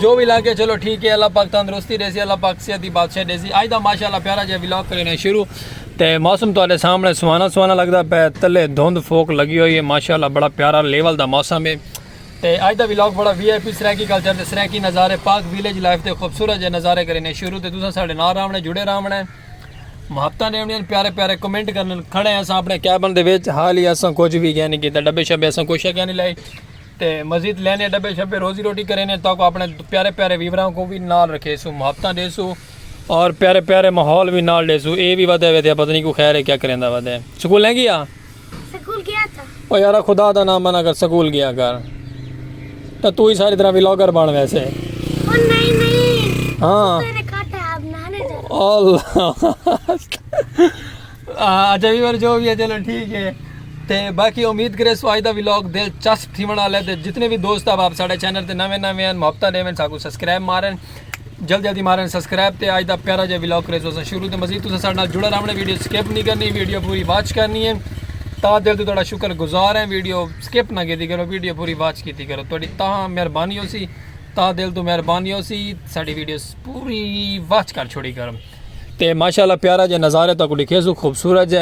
جو بھی لاکے چلو ٹھیک ہے اللہ پاک تندرستی دے سی اللہ پاک صحت دی بادشاہ دے سی آج دا ماشاءاللہ پیارا جے ولاگ کرنے شروع تے موسم تواڈے سامنے سوانا سوانا لگدا پے تلے دھند فوک لگی ہوئی ہے ماشاءاللہ بڑا پیارا لیول دا موسم ہے تے آج دا ولاگ بڑا V I P Saraiki culture تے سرائیکی نظارے پاک ویلیج لائف تے خوبصورت جے نظارے کرنے شروع تے تساں ساڈے نال راونا جڑے راونا ہے محبتہ نے انہیں پیارے پیارے کمنٹ کرنے کھڑے ہیں اساں اپنے کیبن دے وچ حال ہی اساں کچھ بھی گیا نہیں کیتا ڈبے شبے اساں کوشش کیا نہیں لائی تے مزید لینے ڈبے شبے روزی روٹی کرینے تاکہ اپنے پیارے پیارے ویوراں کو بھی نال رکھے سو محبتاں دے سو اور پیارے پیارے ماحول بھی نال دے سو اے بھی ودے ودے پتہ نہیں کو خیر ہے کیا کریندا ودے سکول نہیں گیا سکول گیا تھا او یارا خدا دا نام بنا کر سکول گیا کر تو تو ہی ساری طرح ویلاگر بن ویسے او نہیں نہیں ہاں اللہ اچھا ویور جو بھی ہے چلو ٹھیک ہے تے باقی امید کرے سو آج دا ویلاگ دلچسپ تھی بنا لے تے جتنے بھی دوست آپ ساڑھے چینل تے نوے نوے ہیں محبتہ دے میں ساکو سبسکرائب مارن جلد جلدی مارن سبسکرائب تے آج دا پیارا جا ویلاگ کرے سو شروع تے مزید تو ساڑھے نال جڑا رہنے ویڈیو سکیپ نہیں کرنی ویڈیو پوری واچ کرنی ہے تا دل تو تھوڑا شکر گزار ہیں ویڈیو سکیپ نہ کیتی کرو ویڈیو پوری واچ کیتی کرو تھوڑی تا مہربانی ہو سی تا دل تو مہربانی ہو سی ساڑھی ویڈیو پوری واچ کر چھوڑی کرو تے ماشاءاللہ پیارا جے نظارے تاکو لکھے سو خوبصورت جے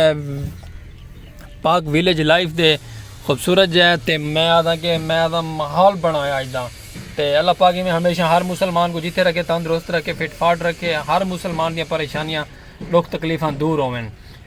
پاک ویلیج لائف دے خوبصورت جے تے میں آدھا کہ میں آدھا محال بنایا آج دا تے اللہ پاک میں ہمیشہ ہر مسلمان کو جیتے رکھے تندرست رکھے فٹ فاٹ رکھے ہر مسلمان دیا پریشانیاں لوگ تکلیفاں دور ہوئن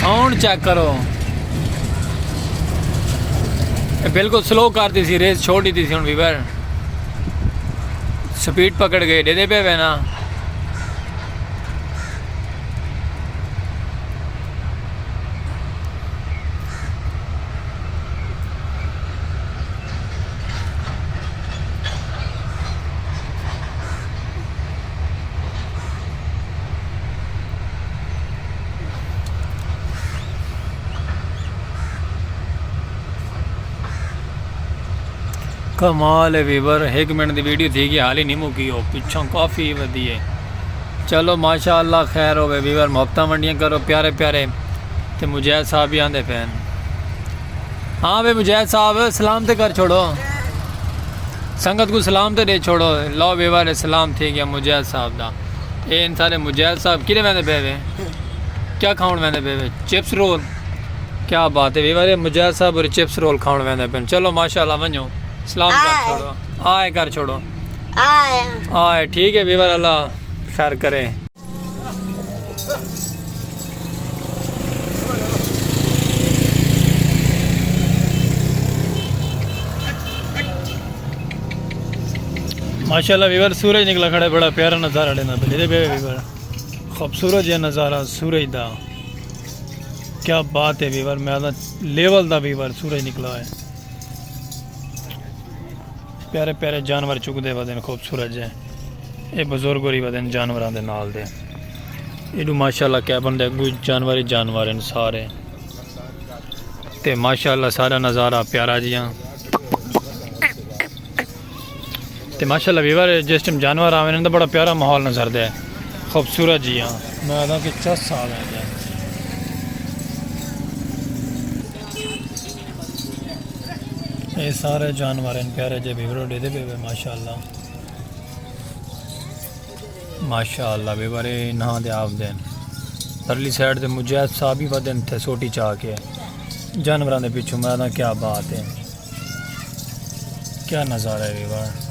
ساؤنڈ چیک کرو بالکل سلو کر دی سی ریس چھوڑ دی سی ہوں ویور سپیڈ پکڑ گئے ڈے دے پہ وینا کمال ہے ویور ہک منٹ دی ویڈیو تھی گئی حالی نہیں مکی ہو پچھوں کافی ودی ہے چلو ماشاءاللہ خیر ہوے ویور محبتہ منڈیاں کرو پیارے پیارے تے مجاہد صاحب بھی آندے پین ہاں بھائی مجاہد صاحب سلام تے کر چھوڑو سنگت کو سلام تے دے چھوڑو لو ویوار سلام تھی گیا مجاہد صاحب دا اے ان سارے مجاہد صاحب کیڑے ویندے پے وے کیا کھاون ویندے پے وے چپس رول کیا بات ہے ویوار مجاہد صاحب اور چپس رول کھاون ویندے پے چلو ماشاءاللہ ونجو سلام کر چھوڑو آئے کر چھوڑو آئے ٹھیک ہے ویوار اللہ خیر کرے ماشاءاللہ ویور سورج نکلا کھڑا ہے بڑا پیارا نظارہ لینا پہ لیدے بے ویور خوبصورت یہ نظارہ سورج دا کیا بات ہے ویور میں آدھا لیول دا ویور سورج نکلا ہے پیارے پیارے جانور چکدے ودن خوبصورت جے اے بزرگ ہوری ودن جانوراں دے نال دے ایڈو ماشاءاللہ کیبن دے اگو جانور ہی جانور ہیں سارے تے ماشاءاللہ سارا نظارہ پیارا جیاں تے ماشاءاللہ ویور جس ٹائم جانور آویں ہیں تو بڑا پیارا ماحول نظر دے خوبصورت جیاں میں آدھا کہ چس سال ہیں اے سارے جانور ہن پیارے جے ویورو ڈیدے پے وے ماشاءاللہ ماشاءاللہ ویورے نہ دے آپ دین پرلی سائیڈ دے مجید صاحب ہی ودن تھے سوٹی چاہ کے جانوراں دے پیچھے میں دا کیا بات ہے کیا نظارہ ہے ویور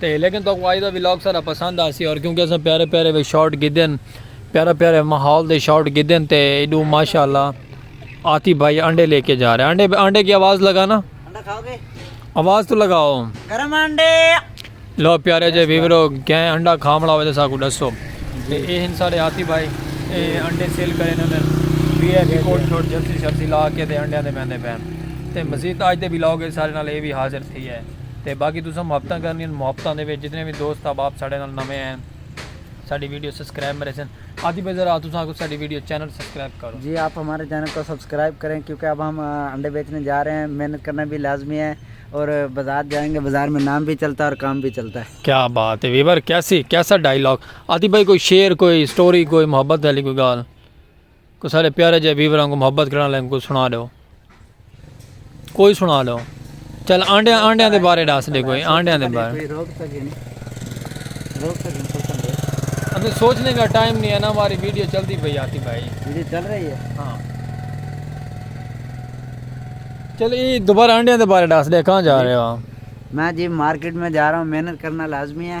تے لیکن تہاکوں اج دا ولاگ سارا پسند آسی اور کیونکہ اساں پیارے پیارے وچ شاٹ گھدے ہن پیارا پیارے ماحول دے شاٹ گھدے ہن تے ایڈو ماشاءاللہ آتی بھائی انڈے لے کے جا رہے انڈے انڈے کی آواز لگانا آواز تو لگاؤ گرم انڈے لو پیارے جے ویورو گئے انڈا کھامڑا ہوئے ساکو ڈسو تے اے ہن سارے آتی بھائی اے انڈے سیل کرے انہوں نے بی ایف کوٹ چھوٹ جرسی شرسی لا کے تے انڈے دے بیندے پین تے مزید آج دے ولاگ سارے نال اے بھی حاضر تھی ہے تے باقی تساں محبتاں کرنیاں ہن محبتاں دے وچ جتنے وی دوست احباب ساڈے نال نویں آئے ہن ساڈی ویڈیو سبسکرائب مرے سن آتی پے ذرا تساں آکھو ساڈی ویڈیو چینل سبسکرائب کرو۔ جی آپ ہمارے چینل کو سبسکرائب کریں کیونکہ اب ہم انڈے بیچنے جا رہے ہیں محنت کرنا بھی لازمی ہے اور بازار جائیں گے بازار میں نام بھی چلتا ہے اور کام بھی چلتا ہے۔ کیا بات ہے ویور کیسی کیسا ڈائیلاگ آتی بھائی کوئی شعر کوئی سٹوری کوئی محبت والی کوئی گال۔ کوئی سارے پیارے جے ویوراں کو محبت کرنا لیں کوئی سنا دو کوئی سنا دو چل آنڈیاں آنڈیاں دے بارے ڈاس دے کوئی آنڈیاں دے بارے ہمیں سوچنے کا ٹائم نہیں ہے نا ہماری ویڈیو چلتی پہ آتی بھائی ویڈیو چل رہی ہے ہاں چل یہ دوبارہ آنڈیاں دے بارے ڈاس دے کہاں جا رہے ہو میں جی مارکیٹ میں جا رہا ہوں محنت کرنا لازمی ہے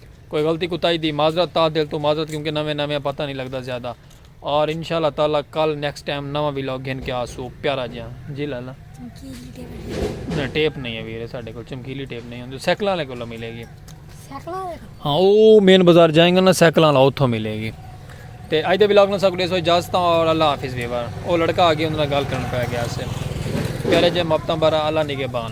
کوئی غلطی کوتاہی دی معذرت تہہ دل توں معذرت کیونکہ نویں نویں آں پتہ نی لگدا زیادہ اور انشاء اللہ تعالی کل نیکسٹ ٹائم نواں ولاگ گھن کے آسو پیارا جیاں جی لالا چمکیلی ٹیپ نہیں نہ ٹیپ نہیں ہے ویرے ساڈے کول چمکیلی ٹیپ نہیں ہوندی سائیکلاں والے کولوں ملے گی سائیکل والے کو ہاں او مین بازار جائیں گے نا سائیکلاں والا اوتھوں ملے گی تے اج دے ولاگ نال ساکو دیسو اجازت اور اللہ حافظ ویور او لڑکا آ گیا اندر گال کرن پہ گیا سے پیارے جے محبتاں بارہ اللہ نگہبان